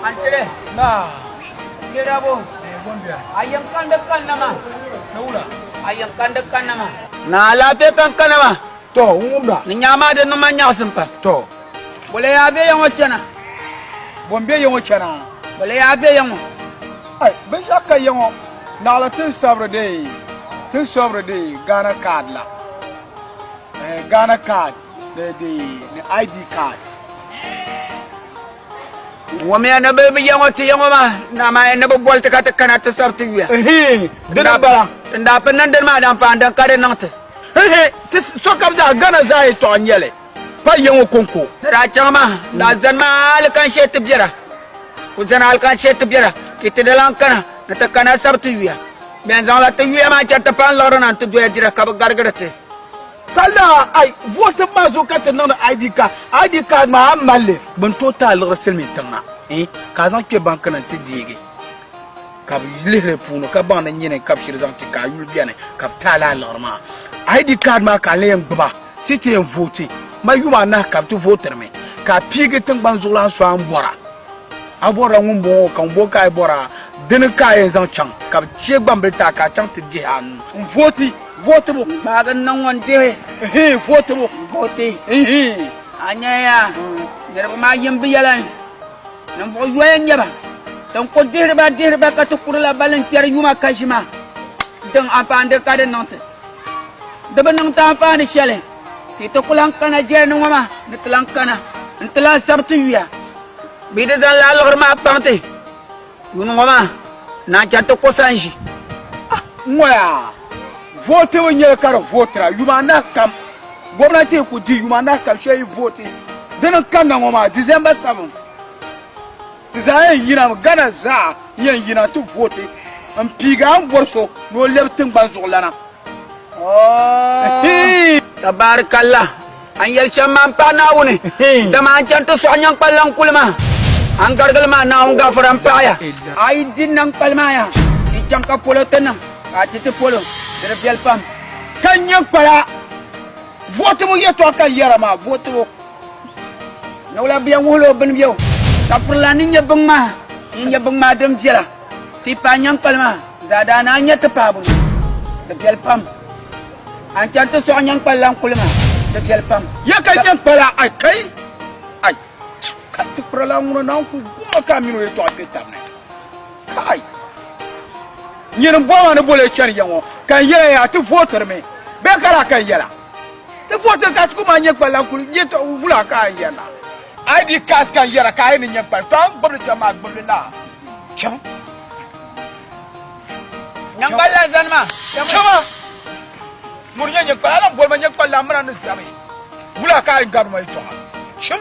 Antele naa Nirabo a yɛn kandi kanna ma a yɛn kandi kanna ma. Naa alaafee kan kana ma. Tɔ n wum ba. Ni nyaa maa di niŋ ma nyaɣisim pam. Tɔ. Bole yaa be ya ŋɔ chana. Bom be ya ŋɔ chana. Bole yaa be ya ŋɔ. Ai binshɛɣu ka ya ŋɔ naɣila tin sabiri dee tin sobiri dee Ghana card la eh, Ghana card. ni di ni ID card. ŋɔ miya ni bi ya ŋɔ ti ya ŋɔ maa na maa ni bi boli ti ka ti kana ti sari ti yuya Ehe, di ni bala. n daa pini niŋ dini maa daa paani din ka di niŋ ti Ehe, ti sokam zaa Ghana zaa yɛtɔɣa n-nyɛ li pa ya ŋɔ kɔŋko. ti daa chaŋ maa n daa zani maa hali kan shee ti bɛra ku zani hali kan shee ti bɛra ka ti di lan kana ni ti kana sari ti yuya bɛn zaŋla ti yuya maa chani ti paani liɣiri na n-ti doya dira ka bi garigiri ti Ka laa ai vooi tiŋ maa zuɣu ka ti niŋdi ID card. ID card maa a mali li bin tooi ti a liɣiri silimiin tiŋ maa eh ka a zaŋ kpe ban kana nti deegi ka bi lihiri di puuni ka baŋ ni nyini ka bi shiri zaŋ ti ka a yuli beni ka bi ti a laa liɣiri maa. ID card maa ka n lee gbuba ti ti yɛn vooti ma yuma anahi ka bi ti vootiri mi ka a piigi tiŋgbani zuɣulan so a ni bɔra a bɔrila ŋun bɔŋɔ ka ŋun bɔŋɔ ka a yi bɔra dini ka a yɛn zaŋ chaŋ ka bi che gbambili ti a ka a chaŋ ti dihi a nuu n vooti. Vootibu gbaagi n niŋ ŋun dihi hii vootibu vooti hii a nyɛya niriba maa yim bi yɛla ninvuɣu yoya n nyɛba tin ko dihiriba dihiriba ka ti kurila balin kpɛri yuma ka ʒima din anfaani ka di niŋti di bi niŋti anfaani shɛli ti ti ku lan kana jɛlini ŋɔ maa ni ti lan kana n ti lan sabi ti yuya bee di zaŋla liɣiri maa kpaŋ ti Yuuni ŋɔ maa naan chaŋ ti ko sanʒi. Ah, n ŋɔ yaa, vootibu nyɛli ka di vootira yuma anahi kam. Gomnanti ku di yuma anahi kam shee yi vooti din n kanna ŋɔ maa, December 7. Ti zaa yɛn yinami, Ghana zaa n yɛn yina ti vooti n piigi a ni bɔri so ni o lɛbi tiŋgbani zuɣulana. Oh! Tabaarikalla! A ni yɛli shɛm maa m-paai Naawuni, dama a ni chani ti sɔɣi nyaŋkpalilaŋ kuli maa. A ni garigili maa Naawuni gafara m-paaya. A yi di nyaŋkpali maa yaha, di chaŋ ka polo ti niŋ, ka a di ti polo, di di viɛli pam. Ka nyaŋkpala vootibu yɛtɔɣa ka yɛra maa vootibu niwula bɛ yɛn wuhila o bini bɛu, ka furila ni nyɛ binŋmahi ni nyɛ binŋmahi din viɛla ti yi paai nyaŋkpali maa zaa daa ni a nya ti paai bini di viɛli pam. A ni chani ti sɔɣi nyin kpali lan kuli ma di viɛli pam. Ya ka nyin kpala ai kai ai ka ti kpira lan ŋuna na n ku gumma ka mini o yɛtɔɣa kpe tabi ni kai nyin bɔ ma ni boli ya chani ya ŋɔ ka n yɛla ya ti vootiri mi bɛ ka la ka n yɛla ti vootiri ka ti ku ma nyin kpali lan kuli yɛtɔɣa wula ka n yɛla ID cards ka n yɛra ka a yi ni nyin kpali tɔɣa n gbibili chani maa gbibili la chim. Nyɛŋkpal la zani ma. Chama! Mori nyɛ nyɛŋkpal, a lan boli ma nyɛŋkpal la, a mini a ni zami. Wula ka a yi gari ma yɛtɔɣa? Chim!